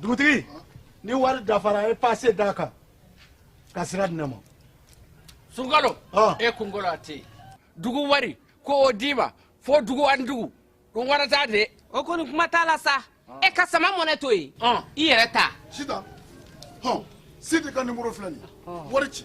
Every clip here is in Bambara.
dugutigi ni wari dafara a ye paase d'a kan ka sira di ne ma sunkalo e kunkolo a tɛ yen dugu wari ko o d'i ma fo dugu ani dugu don wɛrɛ t'a de o kɔni kuma t'a la sa e ka sama money to yen i yɛrɛ ta sita hɔn sidi ka nimoro filɛ nin ye wari ci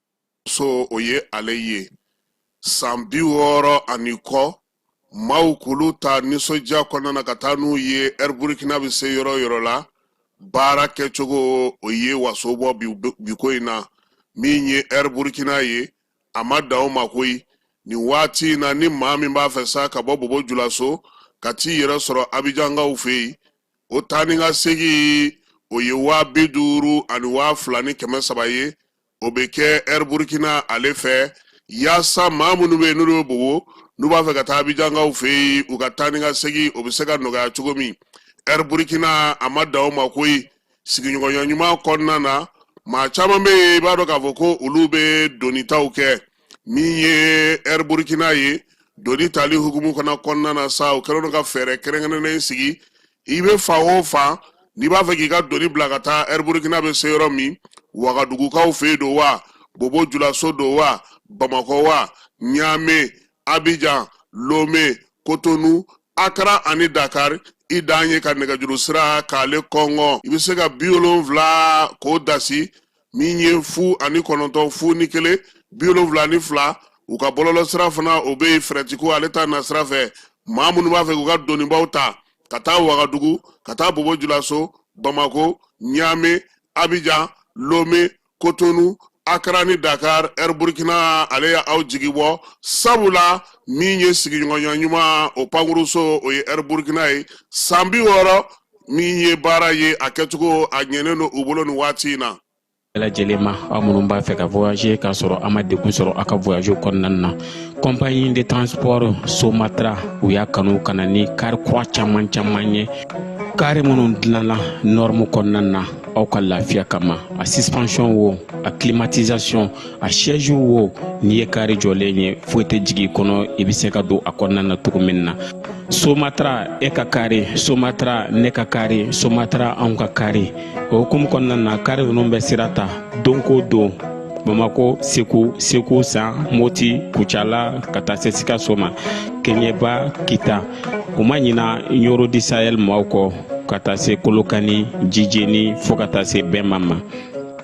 so o ye ale ye san bi wɔɔrɔ ani kɔ maaw k'olu ta nisɔndiya kɔnɔna na ka taa n'u ye ɛri burukina bɛ se yɔrɔ yɔrɔ la baara kɛcogo o ye waso bɔ bi ko in na min ye ɛri burukina ye a ma dan o ma koyi nin waati in na ni maa min b'a fɛ sa ka bɔ bobo julaso ka t'i yɛrɛ sɔrɔ abijankaw fɛ yen o taa ni ka segin o ye waa bi duuru ani waa fila ni kɛmɛ saba ye o bɛ kɛ ɛri burukina ale fɛ yaasa maa minnu bɛ yen n'olu bɛ bobo n'u b'a fɛ ka taa abijankaw fɛ yen u ka taa ni ka segin o bɛ se ka nɔgɔya cogo min ɛri burukina a ma dan o ma koyi sigiɲɔgɔnya ɲuman kɔnɔna na maa caman bɛ yen i b'a dɔn k'a fɔ ko olu bɛ donitaw kɛ min ye ɛri burukina ye doni tali hukumu fana kɔnɔna na sa u kɛlen don ka fɛɛrɛ kɛrɛnkɛrɛnnen sigi i bɛ fan o fan n'i b'a fɛ k'i ka doni bila ka taa ɛri burukina bɛ se yɔrɔ min wagadugukaw fɛ yen don wa bobo julaso don wa bamakɔ wa ɲaame abijan lome kotonu akara ani dakari i dan ye ka nɛgɛjuru sira k'ale kɔngɔ i bɛ se ka bi wolonwula k'o dasi min ye fu ani kɔnɔntɔn fu ni kelen bi wolonwula ni fila u ka bɔlɔlɔ sira fana o bɛ yen fɛrɛtiko ale ta nasira fɛ maa minnu b'a fɛ k'u ka donibaw ta ka taa wagadugu ka taa bobo julaso bamako ɲaame abijan lome kotonu akara ni dakar ɛri burukina ale y'aw jigi bɔ sabula min ye sigiɲɔgɔnya ɲuman o pankurunso o ye ɛri burukina ye san bi wɔɔrɔ min ye baara ye a kɛcogo a ɲɛnen don u bolo nin waati in na bɛɛ lajɛlen ma aw minnu b'a fɛ ka voyager k'a sɔrɔ a ma degun sɔrɔ a ka voyage kɔnɔna na compagnie de transport somatra u y'a kanu ka na ni kari kura caman caman ye kari minnu dilanna norme kɔnɔna na aw ka lafiya kama a suspension wo a climatisation a siège wo n'i ye kari jɔlen ye foyi tɛ jigin i kɔnɔ i bɛ se ka don a kɔnɔna na cogo min na somatra e ka kari somatra ne ka kari somatra anw ka kari o hukumu kɔnɔna na kari ninnu bɛ sira ta don ko don bamako segu segu san moti kucala ka taa se sikaso ma keɲɛba kita u ma ɲina ɲɔrɔ di sahɛl maaw kɔ ka taa se kolokani jijeni fɔɔ ka taa se bema ma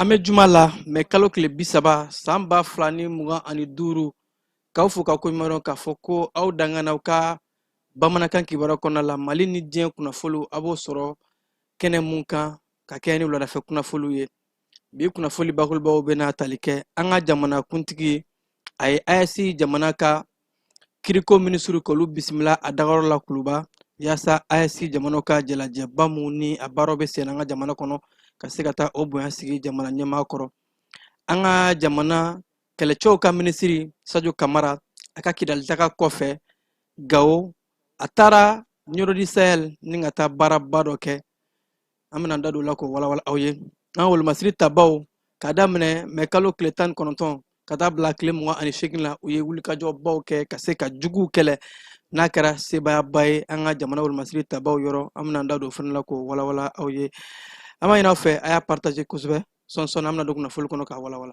An bɛ juma la mɛ kalo tile bi saba san ba fila ni mugan ani duuru k'aw fo ka koɲuman dɔn k'a fɔ ko aw dangana ka bamanankan kibaruya kɔnɔna la mali ni diɲɛ kunnafoliw a b'o sɔrɔ kɛnɛ mun kan ka kɛɲɛ ni wuladafɛ kunnafoliw ye bi kunnafoli bakurubaw bɛna tali kɛ an ka jamana kuntigi a ye AES jamana ka kiriko minisiri k'olu bisimila a dagayɔrɔ la kuluba yaasa AES jamanaw ka jalajɛba mun ni a baaraw bɛ sen na an ka jamana kɔnɔ ka se ka taa o bonya sigi jamana ɲɛmaa kɔrɔ an ka jamana kɛlɛcɛw ka minisiri sajo kamara a ka kidali taga kɔfɛ gawo a taara ɲoro du sahɛl ni ka taa baaraba dɔ kɛ an bɛna da don o la k'o walawala aw ye an wolomasiri tabaw k'a daminɛ mɛ kalo tile tan ni kɔnɔntɔn ka taa bila tile mugan ani seegin la u ye wulikajɔbaw kɛ ka se ka juguw kɛlɛ n'a kɛra sebaayaba ye an ka jamana wolomasiri tabaw yɔrɔ an bɛna da don o fɛnɛ la k'o walawala aw ye an b'a ɲini aw fɛ a y'a partager kosɛbɛ sɔn sɔn an bɛna don kunnafoli kɔnɔ k'a walawala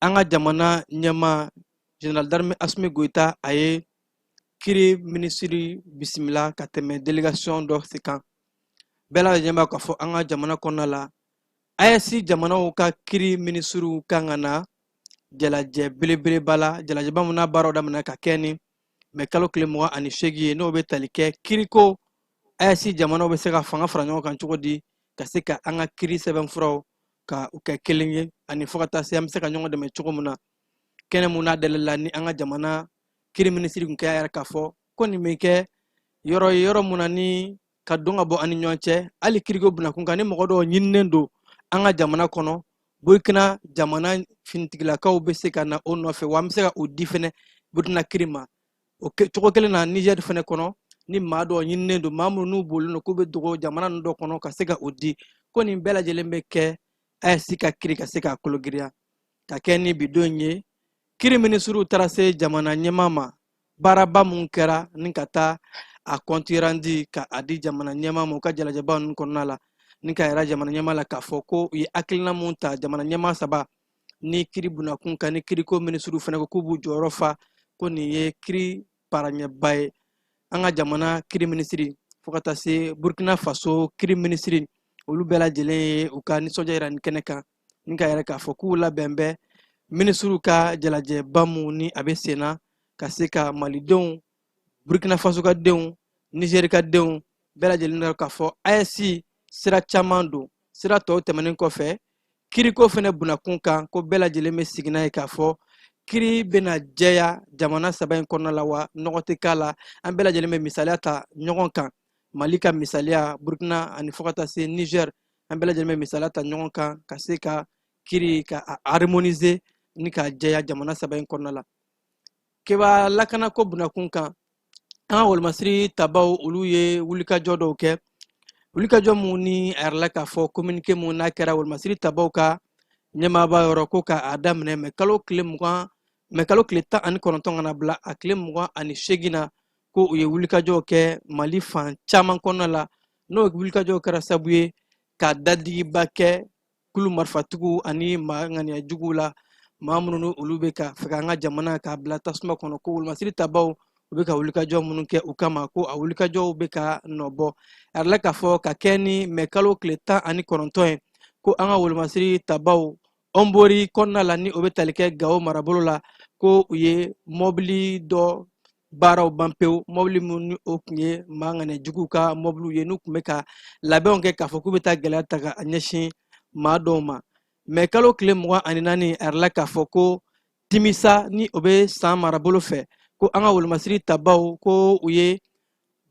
an ka jamana ɲɛmaa general d'armée asimi goyita a ye kiri minisiri bisimila ka tɛmɛ delegation dɔ sen kan bɛɛ lajɛlen b'a k'a fɔ an ka jamana kɔnɔna la AES jamanaw ka kiri minisiriw kan ka na jalajɛ belebeleba la jalajɛba min n'a baaraw daminɛ ka kɛ ni mɛ kalo tile mugan ani seegin ye n'o bɛ tali kɛ kiriko AES jamanaw bɛ se ka fanga fara ɲɔgɔn kan cogo di ka se ka an ka kiri sɛbɛnfuraw ka u kɛ kelen ye ani fo ka taa se an bɛ se ka ɲɔgɔn dɛmɛ cogo min na kɛnɛ mun n'a dɛlɛla ni an ka jamana kiri minisiri tun k'a yira k'a fɔ ko nin bɛ kɛ yɔrɔ ye yɔrɔ mun na ni ka don ka bɔ an ni ɲɔgɔn cɛ hali kiriko bunakun kan ni mɔgɔ dɔw ɲininen don an ka jamana kɔnɔ burkina jamana finitigilakaw bɛ se ka na o nɔfɛ wa an bɛ se ka o di fɛnɛ burkina kiri ma o cogo kelen na nizɛri fɛnɛ kɔnɔ ni maa dɔ ɲininen don maa minnu n'u bolilen don k'u bɛ dogo jamana ninnu dɔ kɔnɔ ka se ka o di ko nin bɛɛ lajɛlen bɛ kɛ AES ka kiri ka se k'a kologiriya ka kɛ ni bi don ye kiri minisiriw taara se jamana ɲɛmaa ma baaraba mun kɛra ni ka taa a compte rendu ka a di jamana ɲɛmaa ma u ka jalajɛba ninnu kɔnɔna la ni k'a yira jamana ɲɛmaa la k'a fɔ ko u ye hakilina mun ta jamana ɲɛmaa saba ni kiri bunakun kan ni kiriko minisiriw fɛnɛ ko k'u b'u jɔyɔrɔ fa ko nin ye kiri paraɲɛba ye an ka jamana kiri minisiri fo ka taa se burkina faso kiri minisiri olu bɛɛ lajɛlen ye u ka nisɔndiya yira nin kɛnɛ kan ni k'a yira k'a fɔ k'u labɛn bɛ minisiriw ka jalajɛba mun ni a bɛ sen na ka se ka malidenw burkina faso ka denw nizeri ka denw bɛɛ lajɛlen dɔ k'a fɔ aes sira caman don sira tɔw tɛmɛnen kɔfɛ kiriko fɛnɛ bunakun kan ko bɛɛ lajɛlen bɛ sigi n'a ye k'a fɔ kiri bɛna jɛya jamana saba in kɔnɔna la wa nɔgɔ tɛ k'a la an bɛɛ lajɛlen bɛ misaliya ta ɲɔgɔn kan mali ka misaliya burkina ani fo ka taa se niger an bɛɛ lajɛlen bɛ misaliya ta ɲɔgɔn kan ka se ka kiri ka a harmoniser ni ka jɛya jamana saba in kɔnɔna la keba lakanako bunakun kan an ka wolomasiri tabaw olu ye wulikajɔ dɔw kɛ wulikajɔ min ni a yirala k'a fɔ kominike min n'a kɛra wolomasiri tabaw ka ɲɛmaaba yɔrɔ ko ka a daminɛ mɛ kalo tile mugan mɛ kalo tile tan ani kɔnɔntɔn ka na bila a tile mugan ani seegin na ko u ye wulikajɔw kɛ mali fan caman kɔnɔna la n'o wulikajɔw kɛra sabu ye ka dadigiba kɛ kulu marifatigiw ani maa ŋaniya juguw la maa minnu ni olu bɛ ka fɛ k'an ka jamana k'a bila tasuma kɔnɔ ko wolomasiri tabaw u bɛ ka wulikajɔ minnu kɛ u kama ko a wulikajɔw bɛ ka nɔbɔ a yirala k'a fɔ ka kɛ ni mɛ kalo tile tan ani kɔnɔntɔn ye ko an ka wolomasiri tabaw ɔnbori kɔnɔna la ni o bɛ tali kɛ gawo marabolo la ko u ye mɔbili dɔ baaraw ban pewu mɔbili minnu o tun ye maa ŋaniya juguw ka mɔbiliw ye n'u tun bɛ ka labɛnw kɛ k'a fɔ k'u bɛ taa gɛlɛya ta ka ɲɛsin maa dɔw ma mɛ kalo tile mugan ani naani a yirala k'a fɔ ko timisa ni o bɛ san marabolo fɛ ko an ka wolomasiri tabaw ko u ye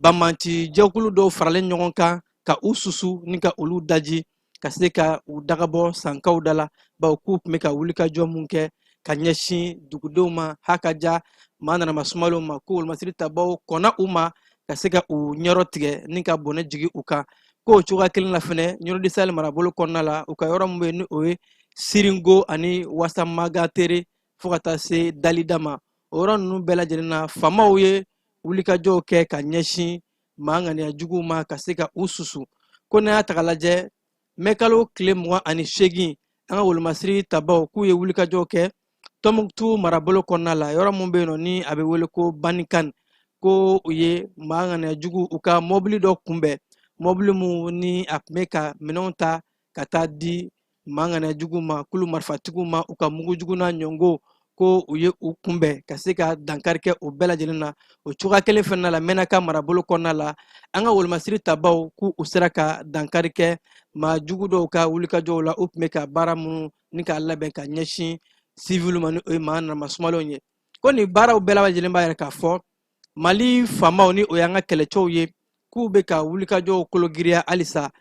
banbaanci jɛkulu dɔw faralen ɲɔgɔn kan ka u susu ni ka olu daji ka se ka u dagabɔ sankaw da la bawo k'u tun bɛ ka wulikajɔ mun kɛ ka ɲɛsin dugudenw ma hakaja maa nanama sumalenw ma ko wolomasiri tabaw kɔnna u ma ka se ka u ɲɛrɔ tigɛ ni ka bɔnɛ jigi u kan ko o cogoya kelen la fɛnɛ ɲɔrɔ du sahel marabolo kɔnɔna la u ka yɔrɔ min bɛ yen ni o ye siringo ani wasamagatere fo ka taa se dalida ma o yɔrɔ ninnu bɛɛ lajɛlen na faamaw ye wulikajɔw kɛ ka ɲɛsin maa ŋaniya juguw ma ka se ka u susu ko n'an y'a ta k'a lajɛ mɛkalo tile mugan ani seegin an ka wolomasiri tabaw k'u ye wulikajɔw kɛ tɔmukutu marabolo kɔnɔna la yɔrɔ min bɛ yen nɔ ni a bɛ wele ko banikan ko u ye maa ŋaniya juguw ka mɔbili dɔ kunbɛn mɔbili min ni a tun bɛ ka minɛnw ta ka taa di maa ŋaniya juguw ma kulu marifatigiw ma u ka mugu jugu n'a ɲɔgɔn ko u ye u kunbɛn ka se ka dankari kɛ o bɛɛ lajɛlen na o cogoya kelen fana la menaka marabolo kɔnɔna la an ka wolomasiri tabaw k'u sera ka dankari kɛ maa jugu dɔw ka wulikajɔw la u tun bɛ ka baara minnu ni k'a labɛn ka ɲɛsin siviliw ma ni o ye maa nanama sumalenw ye ko nin baaraw bɛɛ lajɛlen b'a yira k'a fɔ mali faamaw ni o y'an ka kɛlɛcɛw ye k'u bɛ ka wulikajɔw kologiriya halisa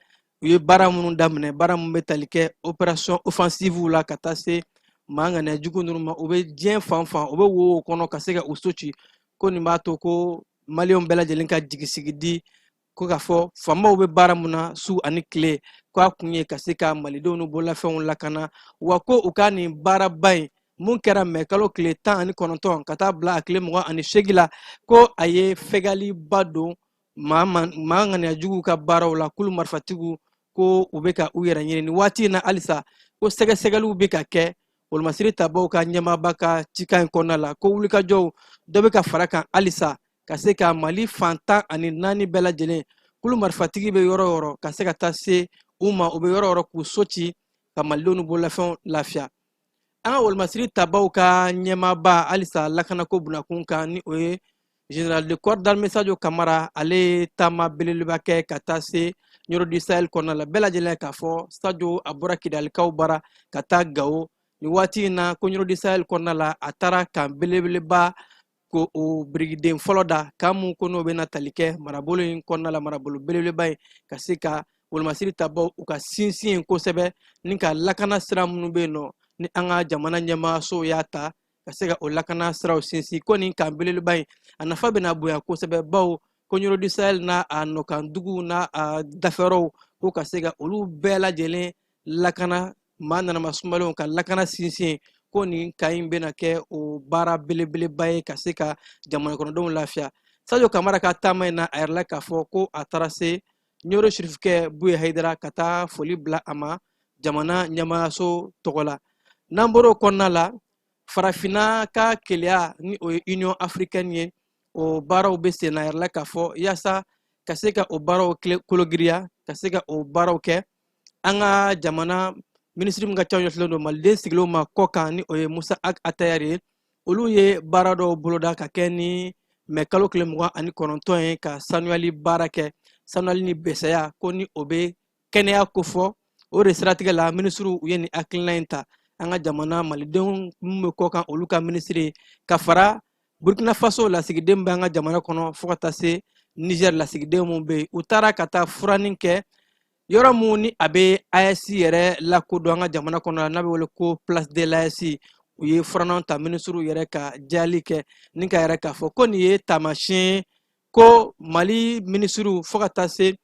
u ye baara minnu daminɛ baara minnu bɛ tali kɛ operation offensive la ka taa se maa ŋaniya jugu ninnu ma u bɛ diɲɛ fan fan u bɛ wo o kɔnɔ ka se ka u so ci ko nin b'a to ko maliyɛnw bɛɛ lajɛlen ka jigisigi di ko k'a fɔ famaw bɛ baara mun na su ani tile ko a kun ye ka se ka malidenw n'u bololafɛnw lakana wa ko u ka nin baaraba in mun kɛra mɛ kalo tile tan ani kɔnɔntɔn ka taa bila a tile mugan ani seegin la ko a ye fɛgɛliba don maa ŋaniya juguw ka baaraw la kulu marifatigiw ko u bɛ ka u yɛrɛ ɲini nin waati in na halisa ko sɛgɛsɛgɛliw bɛ ka kɛ wolomasiri tabaw ka ɲɛmaaba ka cikan in kɔnɔna la ko wulikajɔw dɔ bɛ ka fara kan halisa ka se ka mali fan tan ani naani bɛɛ lajɛlen kulu marifatigi bɛ yɔrɔ yɔrɔ ka se ka taa se u ma u bɛ yɔrɔ yɔrɔ k'u so ci ka malidenw n'u bololafɛnw lafiya an ka wolomasiri tabaw ka ɲɛmaaba halisa lakanako bunakun kan ni o ye general de corps d'armée sadio kamara ale ye taama belebeleba kɛ ka taa se nioro du sahel kɔnɔna la bɛɛ lajɛlen k'a fɔ sadio a bɔra kidalikaw bara ka taa gawo nin waati in na ko nioro du sahel kɔnɔna la a taara camp belebeleba ko o birikiden fɔlɔ da camp mun ko n'o bɛna tali kɛ marabolo in kɔnɔna la marabolo belebeleba in ka se ka wolomasiri tabaw u ka sinsin yen kosɛbɛ ni ka lakana sira minnu bɛ yen nɔ ni an ka jamana ɲɛmaayasow y'a ta ka se ka o lakana siraw sinsin ko nin camp belebeleba in a nafa bɛna bonya kosɛbɛ bawo ko nioro du sahel n'a a nɔkanduguw n'a a dafɛrɛw ko ka se ka olu bɛɛ lajɛlen lakana maa nanama sumalenw ka lakana sinsin ko nin camp in bɛna kɛ o baara belebeleba ye ka se ka jamana kɔnɔdenw lafiya sajo kamara ka taama in na a yɛrɛ la k'a fɔ ko a taara se ɲoro sirifukɛ buye hayidara ka taa foli bila a ma jamana ɲɛmaayaso tɔgɔ la n'an bɔr'o kɔnɔna la farafinna ka keleya ni o ye union africaine ye o baaraw bɛ sen na a yɛrɛ la k'a fɔ yaasa ka se ka o baaraw kologiriya ka se ka o baaraw kɛ an ka jamana minisiri min ka ca ɲɛsilen don maliden sigilenw ma kɔ kan ni o ye musa ag attaher ye olu ye baara dɔw boloda ka kɛ ni mɛ kalo tile mugan ani kɔnɔntɔn ye ka sanuyali baara kɛ sanuyali ni bɛsɛya ko ni o bɛ kɛnɛya kofɔ o de siratigɛ la minisiriw u ye nin hakilina in ta an ka jamana malidenw minnu bɛ kɔ kan olu ka minisiri ka fara burkina faso lasigiden bɛ an ka jamana kɔnɔ fo ka taa se niger lasigiden minnu bɛ yen u taara ka taa furanni kɛ yɔrɔ mun ni a bɛ aes yɛrɛ lakodɔn an ka jamana kɔnɔ la n'a bɛ wele ko place de l'aes u ye furannanw ta minisiriw yɛrɛ ka jali kɛ ni k'a yira k'a fɔ ko nin ye taamasiyɛn ko mali minisiriw fo ka taa se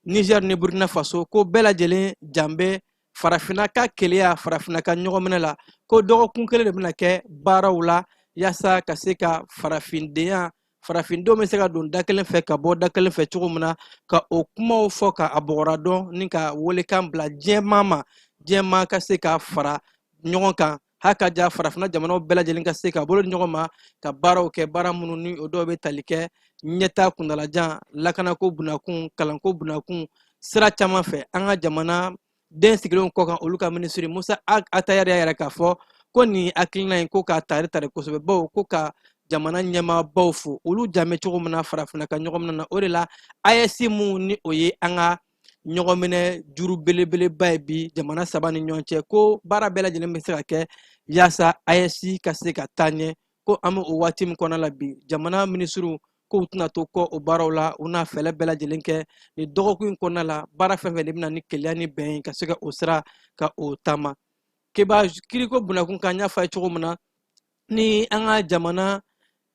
niger ni burkina faso ko bɛɛ lajɛlen jan bɛ farafinna ka keleya farafinna ka ɲɔgɔnminɛ la ko dɔgɔkun kelen de bɛna kɛ baaraw la yaasa ka se ka farafindenya farafindenw bɛ se ka don da kelen fɛ ka bɔ da kelen fɛ cogo min na ka o kumaw fɔ ka a bɔgɔra dɔn ni ka welekan bila diɲɛmaa ma diɲɛmaa ka se ka fara ɲɔgɔn kan h'a ka ja farafina jamanaw bɛɛ lajɛlen ka se ka bolo di ɲɔgɔn ma ka baaraw kɛ baara minnu ni o dɔw bɛ tali kɛ ɲɛtaa kuntaalajan lakanako bunakun kalanko bunakun sira caman fɛ an ka jamana den sigilenw kɔ kan olu ka minisiri musa atayari y'a yira k'a fɔ ko nin hakilina in ko k'a tari tari kosɛbɛ bawo ko ka jamana ɲɛmaabaw fo olu jan bɛ cogo min na farafinna ka ɲɔgɔn minɛ na o de la ayɛsi mun ni o ye an ka ɲɔgɔnminɛ juru belebeleba ye bi jamana saba ni ɲɔgɔn cɛ ko baara bɛɛ lajɛlen bɛ se ka kɛ yaasa ayɛsi ka se ka taa ɲɛ ko an bɛ o waati min kɔnɔna la bi jamana minisiriw k'u tɛna to kɔ o baaraw la u n'a fɛɛrɛ bɛɛ lajɛlen kɛ nin dɔgɔkun in kɔnɔna la baara fɛn fɛn de bɛ na ni keleya ni bɛn ye ka se ka o sira ka o taama keba kiriko bunakun kan n y'a fɔ a ye cogo min na ni an ka jamana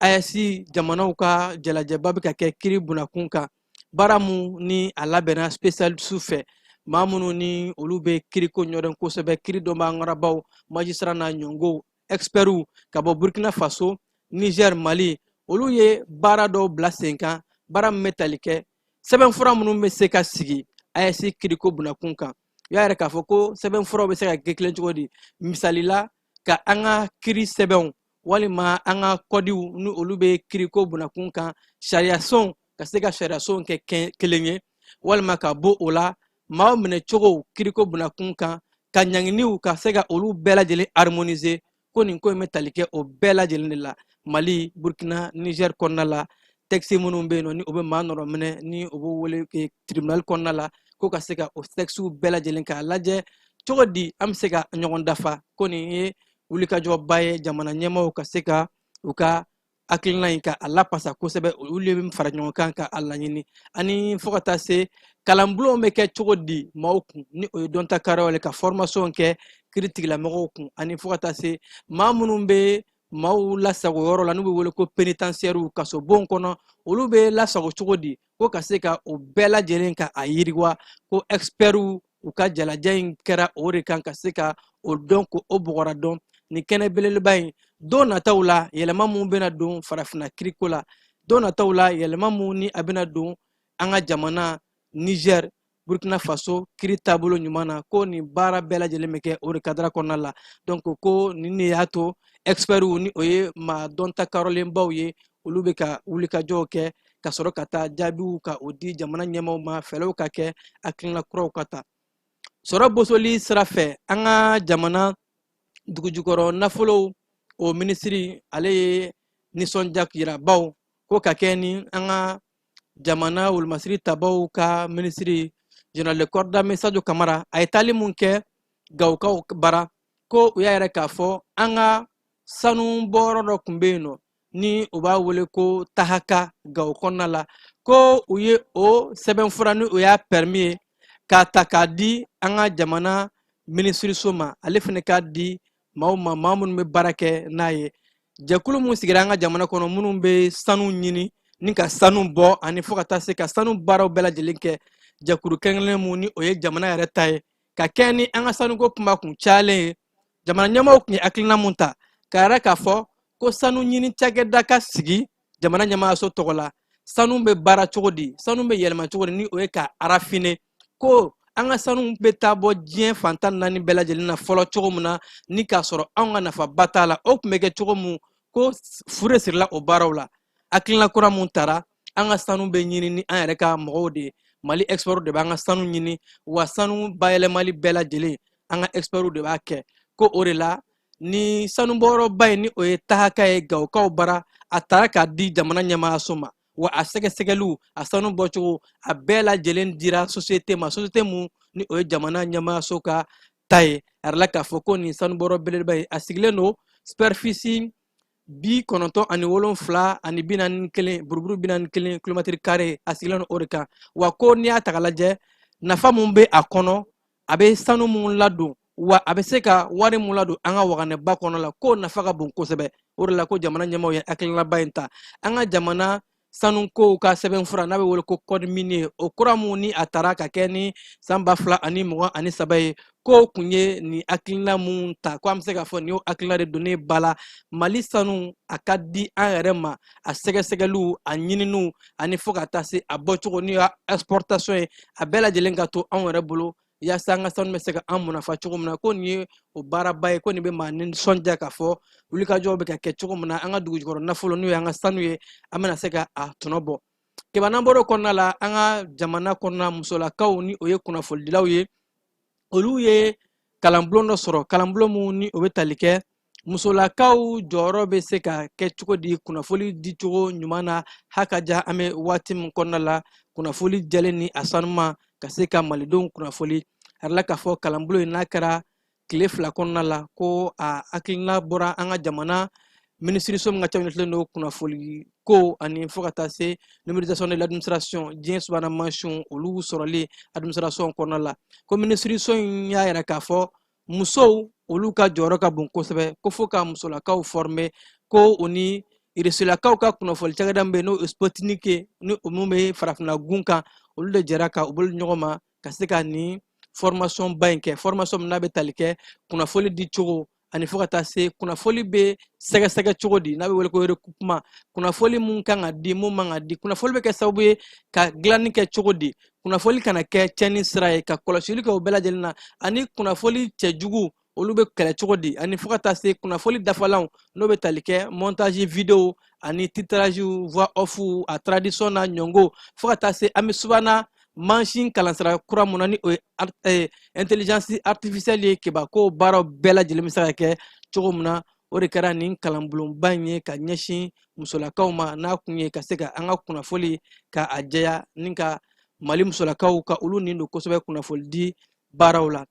ayɛsi jamanaw ka jalajɛba bɛ ka kɛ kiri bunakun kan baara mun ni a labɛnna spesialisiw fɛ maa minnu ni olu bɛ kiriko ɲɛdɔn kosɛbɛ kiri dɔnbaa ŋarabaw majisitara n'a ɲɔgɔnw ɛkisipɛriw ka bɔ burkina faso nizɛri mali olu ye baara dɔw bila sen kan baara min bɛ tali kɛ sɛbɛnfura minnu bɛ se ka sigi ayɛsi kiriko bunakun kan u y'a yira k'a fɔ ko sɛbɛnfuraw bɛ se ka kɛ kelen cogo di misali la ka an ka kiri sɛbɛnw walima an ka kɔdiw ni olu bɛ kiriko bunakun kan sariyasenw ka se ka sariyasenw kɛ kelen ye walima ka bɔ o la maaw minɛ cogo kiriko bunakun kan ka ɲanginiw ka se ka olu bɛɛ lajɛlen harmoniser ko nin ko in bɛ tali kɛ o bɛɛ lajɛlen de la mali burkina niger kɔnɔna la tɛkisi minnu bɛ yen nɔ ni o bɛ maa nɔrɔ minɛ ni o bɛ wele tribunali kɔnɔna la ko ka se ka o tɛkisiw bɛɛ lajɛlen k'a lajɛ cogo di an bɛ se ka ɲɔgɔn dafa ko nin ye wulikajɔba ye jamana ɲɛmaaw ka se ka u ka hakilina in ka a lapasa kosɛbɛ olu le bɛ fara ɲɔgɔn kan ka a laɲini ani fo ka taa se kalanbulonw bɛ kɛ cogo di maaw kun ni o ye dɔnta karaw ye ka fɔrmasɔn kɛ kiri tigɛlamɔgɔw kun ani fo ka taa se maa minnu bɛ maaw lasago yɔrɔ la n'u bɛ wele ko penitansiyɛriw kasobon kɔnɔ olu bɛ lasago cogo di ko ka se ka o bɛɛ lajɛlen ka a yiriwa ko ɛkisipɛriw u ka jalajɛ in kɛra o de kan ka se ka o dɔn ka o bɔgɔra dɔn nin kɛnɛ belebeleba in don nataw la yɛlɛma mun bɛna don farafinna kiriko la don nataw la yɛlɛma mun ni a bɛna don an ka jamana nizɛri burkina faso kiri taabolo ɲuman na ko nin baara bɛɛ lajɛlen bɛ kɛ o de kadara kɔnɔna la donc ko nin de y'a to expertw ni o ye maa dɔnta karɔlenbaw ye olu bɛ ka wulikajɔw kɛ ka sɔrɔ ka taa jaabiw ka o di jamana ɲɛmaaw ma fɛɛrɛw ka kɛ hakilina kuraw ka ta sɔrɔ bosoli sira fɛ an ka jamana dugujukɔrɔ nafolow o minisiri ale ye nisɔndiya jira bawo ko ka kɛɲɛ ni an ka jamana wolomasiri tabaw ka minisiri general de corps d'armée sadio kamara a ye taali mun kɛ gawokaw bara ko u y'a yira k'a fɔ an ka sanu bɔyɔrɔ dɔ tun bɛ yen nɔ ni u b'a wele ko tahaka gawo kɔnɔna la ko u ye o sɛbɛnfura ni o y'a pɛrɛmi ye k'a ta k'a di an ka jamana minisiriso ma ale fana k'a di maaw ma maa minnu bɛ baara kɛ n'a ye jɛkulu min sigira an ka jamana kɔnɔ minnu bɛ sanu ɲini ni ka sanu bɔ ani fo ka taa se ka sanu baaraw bɛɛ lajɛlen kɛ jɛkulu kɛrɛnkɛrɛnnen mun ni o ye jamana yɛrɛ ta ye ka kɛɲɛ ni an ka sanuko kuma kun cayalen ye jamana ɲɛmaaw tun ye hakilina mun ta k'a yira k'a fɔ ko sanu ɲini cakɛda ka sigi jamana ɲɛmaayaso tɔgɔ la sanu bɛ baara cogo di sanu bɛ yɛlɛma cogo di ni o ye ka arafine ko an ka sanu bɛ taa bɔ diɲɛ fantan naani bɛɛ lajɛlen na fɔlɔ cogo min na ni k'a sɔrɔ anw ka nafaba t'a la o tun bɛ kɛ cogo min ko fu de sirila o baaraw la hakilina kura mun tara an ka sanu bɛ ɲini ni an yɛrɛ ka mɔgɔw de ye mali expertw de b'an ka sanu ɲini wa sanu bayɛlɛmali bɛɛ lajɛlen an ka expertw de b'a kɛ ko o de la nin sanubɔyɔrɔba in ni o ye tahaka ye gawokaw bara a tara ka di jamana ɲɛmaayaso ma wa a sɛgɛsɛgɛliw a sanu bɔcogo a bɛɛ lajɛlen dira sosiyete ma sosiyete mun ni o ye jamana ɲɛmaayaso ka ta ye a yirala k'a fɔ ko nin sanubɔyɔrɔ belebeleba in a sigilen don superficie bi kɔnɔntɔn ani wolonfila ani bi naani kelen buruburu bi naani kelen kilomɛtiri kare a sigilen don o de kan wa ko n'i y'a ta k'a lajɛ nafa mun bɛ a kɔnɔ a bɛ sanu mun ladon wa a bɛ se ka wari mun ladon an ka waganɛba kɔnɔna la k'o nafa ka bon kosɛbɛ o de la ko jamana ɲɛmaaw ye hakilinaba in ta an ka jamana sanukow ka sɛbɛnfura n'a bɛ wele ko code minier o kura mun ni a tara ka kɛɲɛ ni san ba fila ani mugan ani saba ye k'u kun ye nin hakilina mun ta ko an bɛ se k'a fɔ nin y'o hakilina de donnen ba la mali sanu a ka di an yɛrɛ ma a sɛgɛsɛgɛliw a ɲininiw ani fo ka taa se a bɔcogo n'o y'a exportation ye a bɛɛ lajɛlen ka to anw yɛrɛ bolo yaasa an ka sanu bɛ se ka an munafa cogo min na ko nin ye o baaraba ye ko nin bɛ maa nisɔndiya k'a fɔ wulikajɔw bɛ ka kɛ cogo min na an ka dugujukɔrɔ nafolo n'o ye an ka sanu ye an bɛna se ka a tɔnɔ bɔ kibanan bɔr'o kɔnɔna la an ka jamana kɔnɔna musolakaw ni o ye kunnafonidilaw ye olu ye kalanbulon dɔ sɔrɔ kalanbulon mun ni o bɛ tali kɛ musolakaw jɔyɔrɔ bɛ se ka kɛ cogo di kunnafoli dicogo ɲuman na hakaja an bɛ waati min kɔnɔna la kunnafoli jɛlen ni a sanuma ka se ka malidenw kunnafoli a yirala k'a fɔ kalanbulon in n'a kɛra tile fila kɔnɔna la ko a hakilina bɔra an ka jamana minisiriso min ka ca ɲɛsilen don kunnafoli ko ani fo ka taa se numérisation de l'administration diɲɛ subahana mansinw olu sɔrɔli administration kɔnɔna la ko minisiriso in y'a yira k'a fɔ musow olu ka jɔyɔrɔ ka bon kosɛbɛ ko fo ka musolakaw former ko u ni irisilakaw ka kunnafoli cakɛda min bɛ yen n'o ye sputnik ye ni mun bɛ farafinna gun kan olu de jɛra ka u bolo ɲɔgɔn ma ka se ka nin formation ba in kɛ formation min n'a bɛ tali kɛ kunnafoli di cogo ani fo ka taa se kunnafoli bɛ sɛgɛsɛgɛ cogo di n'a bɛ wele ko recoupement kunnafoli mun kan ka di mun man ka di kunnafoli bɛ kɛ sababu ye ka dilanni kɛ cogo di kunnafoli kana kɛ cɛnni sira ye ka kɔlɔsili kɛ o bɛɛ lajɛlen na ani kunnafoli cɛjugu olu bɛ kɛlɛ cogo di ani fo ka taa se kunnafoli dafalanw n'o bɛ tali kɛ montage vidéo ani titrage voix off a traduction n'a ɲɔgɔn fo ka taa se an bɛ subahana mansin kalansira kura mun na ni o ye eh, intelligence artificielle ye keba ko baaraw bɛɛ lajɛlen bɛ se ka kɛ cogo min na o de kɛra nin kalanbulonba in ye ka ɲɛsin musolakaw ma n'a kun ye ka se ka an ka kunnafoli ka a jɛya ni ka mali musolakaw ka olu nin don kosɛbɛ kunnafoli di baaraw la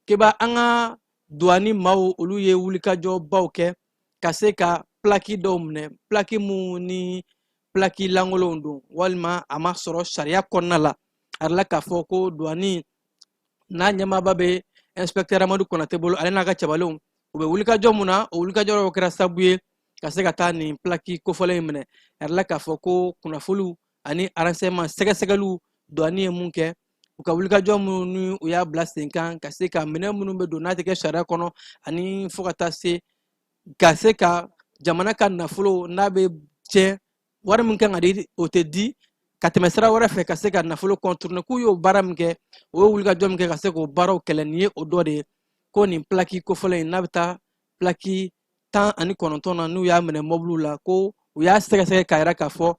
keba an ka duwani maaw olu ye wulikajɔbaw kɛ ka se ka pilaki dɔw minɛ pilaki minnu ni pilaki lankolonw don walima a ma sɔrɔ sariya kɔnɔna la a yirala k'a fɔ ko duwani n'a ɲɛmaaba bɛ inspecteur amadu konate bolo ale n'a ka cɛbalenw u bɛ wulikajɔ mun na o wulikajɔ dɔ kɛra sababu ye ka se ka taa nin pilaki kofɔlen in minɛ a yirala k'a fɔ ko kunnafoliw ani renseignement sɛgɛsɛgɛliw duwani ye mun kɛ u ka wulikajɔ minnu ni u y'a bila sen kan ka se ka minɛn minnu bɛ don n'a tɛ kɛ sariya kɔnɔ ani fo ka taa se ka se ka jamana ka nafolo n'a bɛ tiɲɛ wari min kan ka di o tɛ di ka tɛmɛ sira wɛrɛ fɛ ka se ka nafolo contourner k'u y'o baara min kɛ o ye wulikajɔ min kɛ ka se k'o baaraw kɛlɛ nin ye o dɔ de ye ko nin pilaki kofɔlen in n'a bɛ taa pilaki tan ani kɔnɔntɔn na n'u y'a minɛ mɔbiliw la ko u y'a sɛgɛsɛgɛ k'a yira k'a fɔ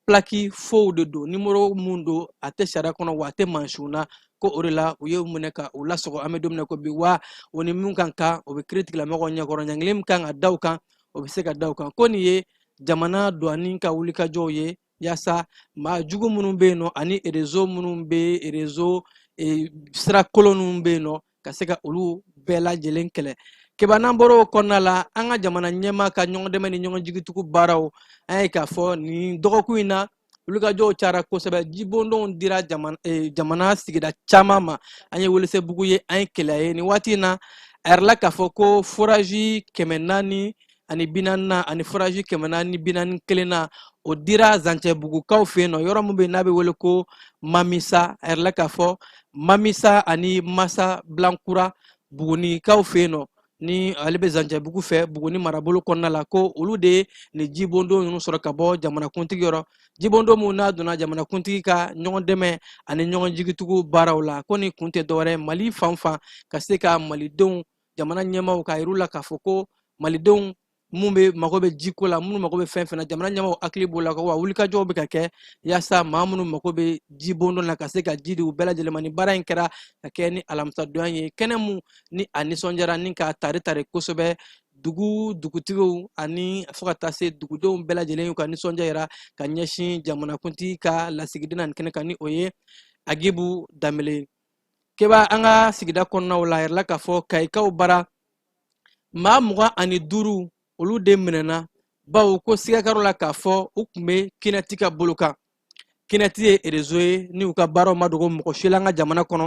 pilaki faux de don nimoro mun don a tɛ sariya kɔnɔ wa a tɛ mansinw na ko o de la u ye minɛ ka u lasɔgɔ an bɛ don min na ko bi wa o ni min ka kan o bɛ kiri tigilamɔgɔw ɲɛkɔrɔ ɲangili min kan ka da u kan o bɛ se ka da u kan ko nin ye jamana duwani ka wulikajɔw ye yaasa maa jugu minnu bɛ yen nɔ ani réseau minnu bɛ réseau e, sira kolon minnu bɛ yen nɔ ka se ka olu bɛɛ lajɛlen kɛlɛ keba n'an bɔra o kɔnɔna la an ka jamana ɲɛmaa ka ɲɔgɔn dɛmɛ ni ɲɔgɔn jigitugu baaraw an ye k'a fɔ nin dɔgɔkun in na wulikajɔw cayara kosɛbɛ jibondonw dira jamana, eh, jamana sigida caman ma an ye welesebugu ye an ye keleya ye nin waati in na a yirala k'a fɔ ko forazi kɛmɛ naani ani binaaninan ani forazi kɛmɛ naani binaani kelennan o dira zancɛbugukaw fɛ yen nɔ yɔrɔ min bɛ n'a bɛ wele ko mamisa a yirala k'a fɔ mamisa ani masabilakura bugunikaw fɛ yen nɔ ni ale bɛ zancɛbugu fɛ buguni marabolo kɔnɔna la ko olu de ye nin jibondon ninnu sɔrɔ ka bɔ jamanakuntigi yɔrɔ jibondon minnu n'a donna jamanakuntigi ka ɲɔgɔn dɛmɛ ani ɲɔgɔn jigitugu baaraw la ko nin kun tɛ dɔwɛrɛ mali fan fan ka se ka malidenw jamana ɲɛmaaw k'a yir'u la k'a fɔ ko malidenw mun bɛɛ mago bɛ jiko la minnu mago bɛ fɛn fɛn na jamana ɲɛmaaw hakili b'o la wa wulikajɔw bɛ ka kɛ yaasa maa minnu mago bɛ jibondon na ka se ka ji di u bɛɛ lajɛlen ma ni baara in kɛra ka kɛ ni alamisadon ye kɛnɛ mun ni a nisɔndiyara ni k'a taare taare kosɛbɛ dugu dugutigiw ani fo ka taa se dugudenw bɛɛ lajɛlen y'u ka nisɔndiya yira ka ɲɛsin jamanakuntigi ka lasigiden na nin kɛnɛ kan ni o ye agibu danbele keba an ka sigida kɔnɔnaw la a yirala k'a fɔ kayikaw bara maa mugan ani duuru olu de minɛna bawo ko siga kɛr'u la k'a fɔ u kun bɛ kinɛti ka bolo kan kinɛti ye erezo ye ni u ka baaraw ma dogo mɔgɔ si la an ka jamana kɔnɔ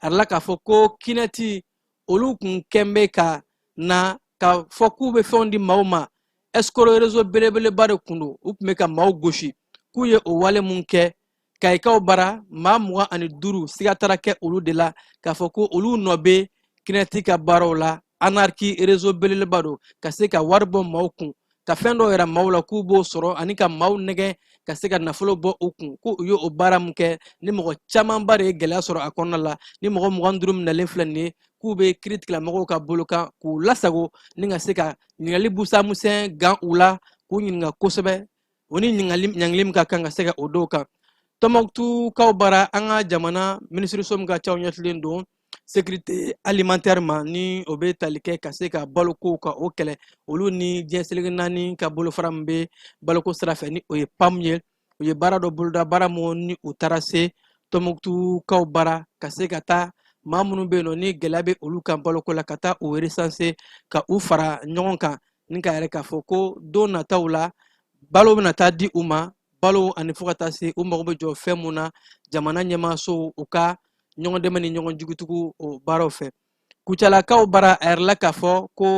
a yirala k'a fɔ ko kinɛti olu kun kɛn bɛ ka na ka fɔ k'u bɛ fɛnw di maaw ma ɛsikoro erezo belebeleba de kun don u kun bɛ ka maaw gosi k'u ye o wale mun kɛ kayikaw bara maa mugan ani duuru siga taara kɛ olu de la k'a fɔ ko olu nɔ bɛ kinɛti ka baaraw la arnaki rezo belebeleba don ka se ka wari bɔ maaw kun ka fɛn dɔw yira maaw la k'u b'o sɔrɔ ani ka maaw nɛgɛn ka se ka nafolo bɔ u kun ko u y'o baara min kɛ ni mɔgɔ camanba de ye gɛlɛya sɔrɔ a kɔnɔna la ni mɔgɔ mugan duuru minɛlen filɛ nin ye k'u bɛ kiritigɛlamɔgɔw ka bolo kan k'u lasago ni ka se ka ɲininkali busan misɛn gan u la k'u ɲininka kosɛbɛ u ni ɲangili min ka kan ka se ka o da u kan tɔnbukutukaw bara an ka jamana minisiriso min ka ca ɲɛsilen don sekirite alimantɛri ma ni o bɛ tali kɛ ka se ka balokow ka o kɛlɛ olu ni diɲɛ seleke naani ka bolofara min bɛ baloko sira fɛ ni o ye pam ye u ye baara dɔ boloda baara mun ni u taara se tɔnbukutukaw bara ka se ka taa maa minnu bɛ yen nɔ ni gɛlɛya bɛ olu kan baloko la ka taa u resanse ka u fara ɲɔgɔn kan ni k'a yira k'a fɔ ko don nataw la balo bɛna taa di u ma balo ani fo ka taa se u mago bɛ jɔ fɛn mun na jamana ɲɛmaasow u ka ɲɔgɔn dɛmɛ ni ɲɔgɔn jigitugu o baaraw fɛ kucalakaw bara a yirala k'a fɔ ko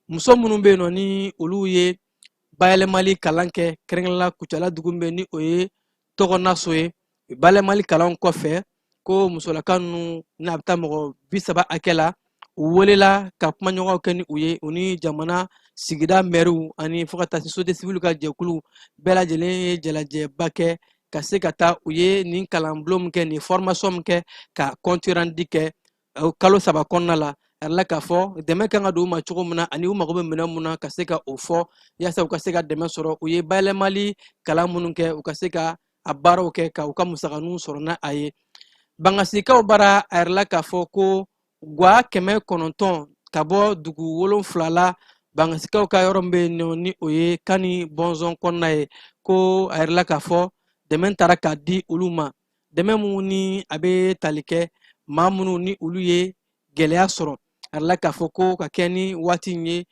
muso minnu bɛ yen nɔ ni olu ye bayɛlɛmali kalan kɛ kɛrɛnkɛrɛnla kucala dugu min bɛ ni o ye tɔgɔ naso ye bayɛlɛmali kalan kɔfɛ ko musolaka ninnu n'a bɛ taa mɔgɔ bi saba hakɛ la u welela ka kumaɲɔgɔnw kɛ ni u ye u ni jamana sigida mɛriw ani fo ka taa se société civile ka jɛkulu bɛɛ lajɛlen ye jalajɛba kɛ ka se ka taa u ye nin kalanbulon min kɛ nin formation min kɛ k'a compte rendu kɛ kalo saba kɔnɔna la a yirala k'a fɔ dɛmɛ kan ka don u ma cogo min na ani u mago bɛ minɛn mun na ka se ka o fɔ yaasa u ka se ka dɛmɛ sɔrɔ u ye bayɛlɛmali kalan minnu kɛ u ka se ka a baaraw kɛ ka u ka musakaninw sɔrɔ na a ye bankasikaw bara a yirala k'a fɔ ko gwa kɛmɛ kɔnɔntɔn ka bɔ dugu wolonfila la bankasikaw ka yɔrɔ min bɛ yen nɔ ni o ye kani bɔnzɔn kɔnɔna ye ko a yirala k'a fɔ dɛmɛ taara k'a di olu ma dɛmɛ minnu ni a bɛ tali kɛ maa minnu ni olu ye gɛlɛya sɔrɔ a yirala k'a fɔ ko ka kɛ ni waati in ye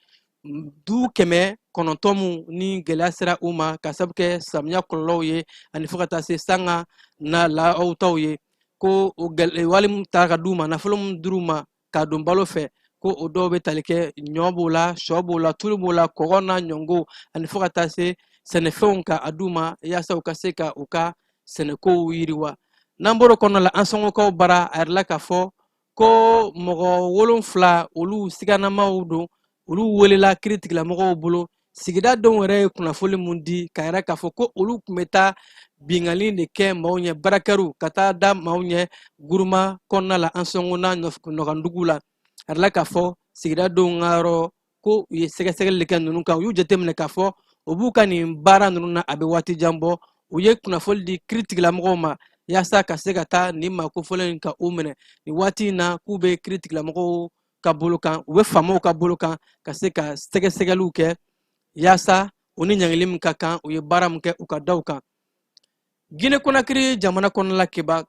du kɛmɛ kɔnɔntɔn min ni gɛlɛya sera u ma ka sabu kɛ samiya kɔlɔlɔw ye ani fo ka taa se sanga na laaw taw ye ko o wale min tara ka d'u ma nafolo min dir'u ma ka don balo fɛ ko o dɔw bɛ tali kɛ ɲɔ b'o la shɔ b'o la tulu b'o la kɔgɔ n'a ɲɔgɔnw ani fo ka taa se sɛnɛfɛnw ka a d'u ma yaasa u ka se ka u ka sɛnɛkow yiriwa n'an bɔr'o kɔnɔna la ansɔngokaw bara a yirala k'a fɔ ko mɔgɔ wolonfila olu siganamaw don olu welela kiri tigilamɔgɔw bolo sigida denw yɛrɛ ye kunnafoni mun di k'a yira k'a fɔ ko olu tun bɛ taa binkanni de kɛ maaw ɲɛ barakɛriw ka taa da maaw ɲɛ guruma kɔnɔna la ansɔngo n'a nɔkandugu la a yirala k'a fɔ sigida denw ka yɔrɔ ko u ye sɛgɛsɛgɛli kɛ ninnu kan u y'u jateminɛ k'a fɔ u b'u ka nin baara ninnu na a bɛ waati jan bɔ u ye kunnafoni di kiri tigilamɔgɔw ma yaasa ka se ka taa nin maa kofɔlen ka u minɛ nin waati in na k'u bɛ kiri tigilamɔgɔw ka bolo kan u bɛ faamaw ka bolo kan ka se ka sɛgɛsɛgɛliw kɛ yaasa u ni ɲangili min ka kan u ye baara min kɛ u ka da u kan gine konakiri jamana kɔnɔla keba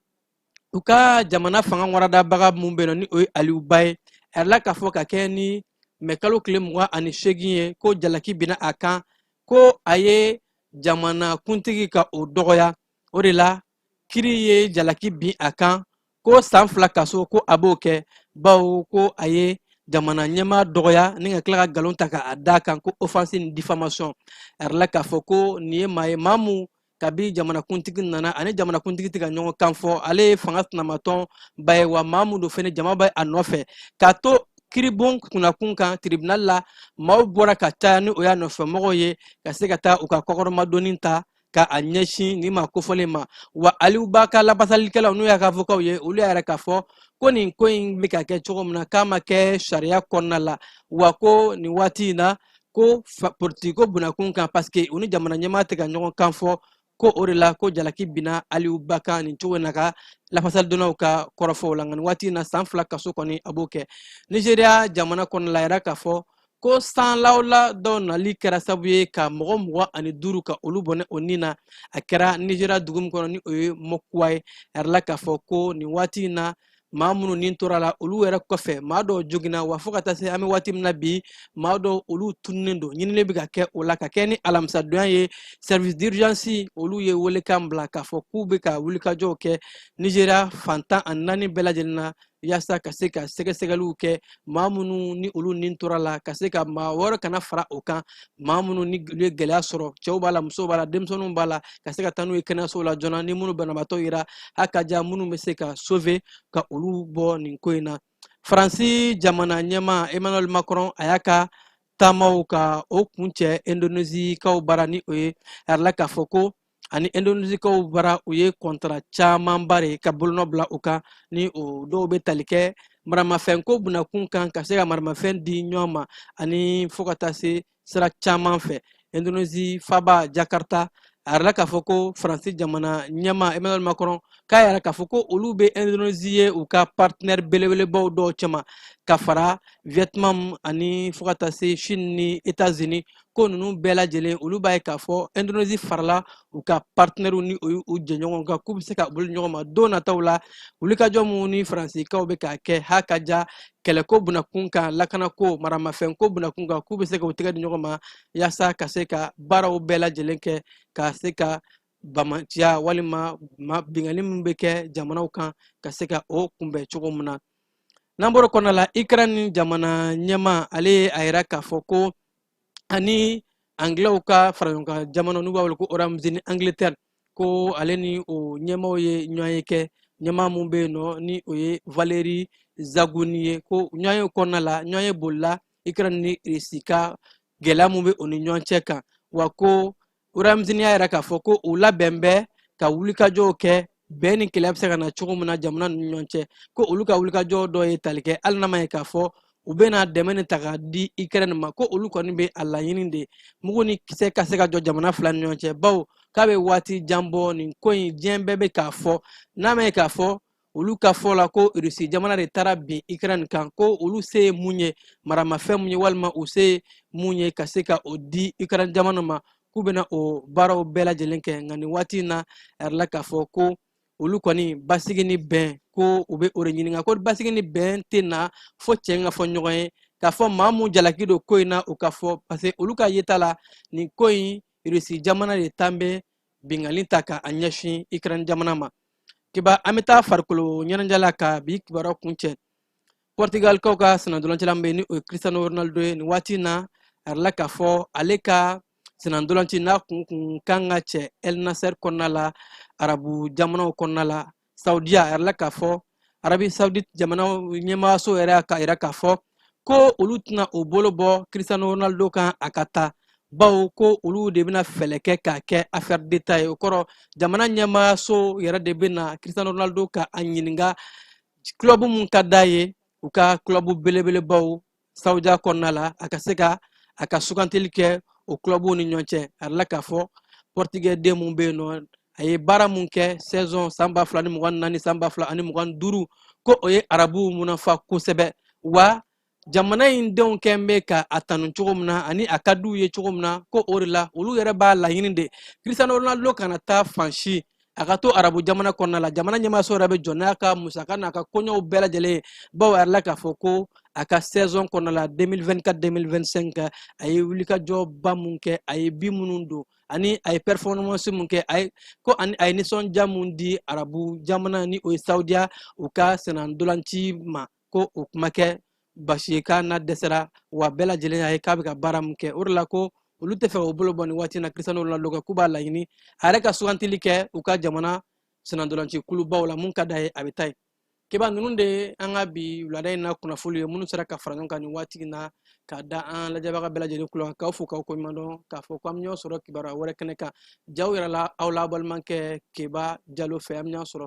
u ka jamana fanga waradabaga min bɛ yen nɔ ni o ye aliyu ba ye a yirala k'a fɔ ka kɛ ni mɛkalo tile mugan ani seegin ye ko jalaki binna a kan ko a ye jamana kuntigi ka o dɔgɔya o de la kiri ye jalaki bin a kan ko san fila kaso ko a b'o kɛ bawo ko a ye jamana ɲɛmaa dɔgɔya ni ka tila ka nkalon ta k'a d'a kan ko offense ni diffamation a yirala k'a fɔ ko nin ye maa ye maa mun kabi jamanakuntigi nana a ni jamanakuntigi tɛ ka ɲɔgɔn kan fɔ ale ye fanga sinamatɔnba ye wa maa mun don fɛnɛ jama bɛ a nɔfɛ k'a to kiribon kunnakun kan tribunal la maaw bɔra ka caya ni o y'a nɔfɛmɔgɔw ye ka se ka taa u ka kɔkɔrɔmadonni ta ka a ɲɛsin nin maa kofɔlen ma wa aliw ba ka lafasalikɛlaw n'o y'a ka avokaw ye olu y'a yira k'a fɔ ko nin ko in bɛ ka kɛ cogo min na k'a ma kɛ sariya kɔnɔna la wa ko nin waati in na ko politikiko bunakun kan paseke u ni jamana ɲɛmaa tɛ ka ɲɔgɔn kan fɔ ko o de la ko jalaki binna aliw ba kan nin cogo in na ka lafasalidonnaw ka kɔrɔfɔw la nka nin waati in na san fila kaso kɔni a b'o kɛ nizeriya jamana kɔnɔna la a yira k'a fɔ ko san lawla dɔw nali kɛra sabu ye ka mɔgɔ mugan ani duuru ka olu bɔnɛ o ni na a kɛra nizeriya dugu min kɔnɔ ni o ye mɔkuwa ye a yirala k'a fɔ ko nin waati in na maa minnu ni tora la olu yɛrɛ kɔfɛ maa dɔw joginna wa fo ka taa se an bɛ waati min na bi maa dɔw olu tununnen don ɲinini bɛ ka kɛ o la ka kɛ ni alamisadonya ye service d'urgence olu ye welekan bila k'a fɔ k'u bɛ ka wulikajɔw kɛ nizeriya fan tan ani naani bɛɛ lajɛlen na yaasa ka se ka sɛgɛsɛgɛliw kɛ maa minnu ni olu ni tora la ka se ka maa wɛrɛ kana fara o kan maa minnu ni olu ye gɛlɛya sɔrɔ cɛw b'a la musow b'a la denmisɛnninw b'a la ka se ka taa n'u ye kɛnɛyasow la joona ni minnu banabaatɔ yera a ka ja minnu bɛ se ka sove ka olu bɔ nin ko in na faransi jamana ɲɛmaa emmanuel macron a y'a ka taamaw ka o kuncɛ indonesikaw bara ni o ye a yirala k'a fɔ ko ani indonesikaw bara u ye kɔntara camanba de ka bolonɔ bila u kan ni o dɔw bɛ tali kɛ maramafɛnko bunakun kan ka se ka maramafɛn di ɲɔgɔn ma ani fo ka taa se sira caman fɛ indonesi faba jakarta a yirala k'a fɔ ko faransi jamana ɲɛmaa emmanuel macron k'a yira k'a fɔ ko olu bɛ indonesi ye u ka partenaire belebelebaw dɔw cɛma ka fara vietnam ani fo ka taa se chine ni etats unis ko ninnu bɛɛ lajɛlen olu b'a ye k'a fɔ indonesie farala u ka partenɛriw ni o y'u jɛɲɔgɔn kan k'u bɛ se ka boli ɲɔgɔn ma don nataw la wulikajɔ minnu ni faransikaw bɛ k'a kɛ ha ka ja kɛlɛko bunakun kan lakanako maramafɛnko bunakun kan k'u bɛ se ka u tɛgɛ di ɲɔgɔn ma yaasa ka se ka baaraw bɛɛ lajɛlen kɛ ka se ka banbaanciya walima binkanni min bɛ kɛ jamanaw kan ka se ka o kunbɛn cogo min na n'an bɔr'o kɔnɔna la ukraine jamana ɲɛmaa ale ye a yira k'a fɔ ko ani angilɛw ka faraɲɔgɔnkan jamana n'u b'a wele ko royaume uni angleterre ko ale ni o ɲɛmaaw ye ɲɔgɔnye kɛ ɲɛmaa mun bɛ yen nɔ ni o ye valeri zaguni ye ko ɲɔgɔnye kɔnɔna la ɲɔgɔnye bolila ukraine ni irisi ka gɛlɛya mun bɛ o ni ɲɔgɔn cɛ kan wa ko royaume uni y'a yira k'a fɔ ko u labɛn bɛ ka wulikajɔw kɛ bɛn ni kelenya bɛ se ka na cogo min na jamana ni ɲɔgɔn cɛ ko olu ka wulikajɔ dɔ ye tali kɛ hali n'a ma ye k'a fɔ u bɛna dɛmɛni ta ka di ikɛrɛni ma ko olu kɔni bɛ a laɲini de mugu ni kisɛ ka se ka jɔ jamana fila ni ɲɔgɔn cɛ bawo k'a bɛ waati jan bɔ nin ko in diɲɛ bɛɛ bɛ k'a fɔ n'a ma ye k'a fɔ olu ka fɔ la ko rusi jamana de taara bin ukraine kan ko olu se ye mun ye maramafɛn mun ye walima u se ye mun ye ka se ka o di ukraine jamana ma k'u bɛna o baaraw bɛɛ lajɛlen kɛ nka nin waati in na a yirala k'a fɔ ko olu kɔni basigi ni bɛn ko u bɛ o de ɲininka ko basigi ni bɛn tɛ na fo cɛn ka fɔ ɲɔgɔn ye k'a fɔ maa mun jalaki don ko in na o ka fɔ parce que olu ka yeta la nin ko in rusi jamana de tan bɛ binkanni ta ka a ɲɛsin ukraine jamana ma kiba an bɛ taa farikolo ɲɛnajɛ la ka bi kibaruya kuncɛ pɔrtigalikaw ka senandolancilan bɛ yen ni o ye cristiano ronaldo ye nin waati in na a yirala k'a fɔ ale ka senandolanci n'a kun kun kan ka cɛ el nasser kɔnɔna la arabu jamanaw kɔnɔna la saudiya a yirala k'a fɔ arabie saoudite jamana ɲɛmaayaso yɛrɛ k'a yira k'a fɔ ko olu tɛna o bolo bɔ cristiano ronaldo kan a ka taa bawo ko olu de bɛna fɛɛlɛ kɛ k'a kɛ affaire d'état ye o kɔrɔ jamana ɲɛmaayaso yɛrɛ de bɛna cristiano ronaldo ka a ɲininka club mun ka d'a ye u ka club belebelebaw sawudiya kɔnɔna la a ka se ka a ka sugantili kɛ o kulɔbuw ni ɲɔgɔn cɛ a yirala k'a fɔ pɔrtigɛ den mun bɛ yen nɔ a ye baara mun kɛ sɛzɔn san ba fila ni mugan naani san ba fila ani mugan duuru ko o ye arabuw munafa kosɛbɛ wa jamana in denw kɛn bɛ ka a tanu cogo min na ani a ka d'u ye cogo min na ko o de la olu yɛrɛ b'a laɲini de cristiano ronaldo kana taa fan si a ka to arabu jamana kɔnɔna la jamana ɲɛmaaso yɛrɛ bɛ jɔ n'a ka musaka n'a ka koɲɛw bɛɛ lajɛlen ye bawo a yirala k'a fɔ ko a ka saison kɔnɔna la 2024-2025 a ye wulikajɔba mun kɛ a ye bi minnu don ani a ye performance mun kɛ a ye ko ani a ye nisɔndiya mun di arabu jamana ni o ye saudiya u ka senandolanci ma ko o kuma kɛ basi ye k'a na dɛsɛra wa bɛɛ lajɛlen y'a ye k'a bɛ ka baara min kɛ o de la ko olu tɛ fɛ o bolo bɔ nin waati na cristiano ronaldo kan k'u b'a laɲini a yɛrɛ ka sugantili kɛ u ka jamana senandolanci kulubaw la mun ka d'a ye a bɛ taa yen kiba ninnu de ye an ka bi wulada in na kunnafoli ye minnu sera ka fara ɲɔgɔn kan nin waati na k'a da an lajɛbaga bɛɛ lajɛlen tulo kan k'aw fo k'aw koɲuman dɔn k'a fɔ ko an bɛ ɲɔgɔn sɔrɔ kibaruya wɛrɛ kɛnɛ kan jaw yɛrɛ la aw la balimakɛ keba jalo fɛ an bɛ ɲɔgɔn sɔrɔ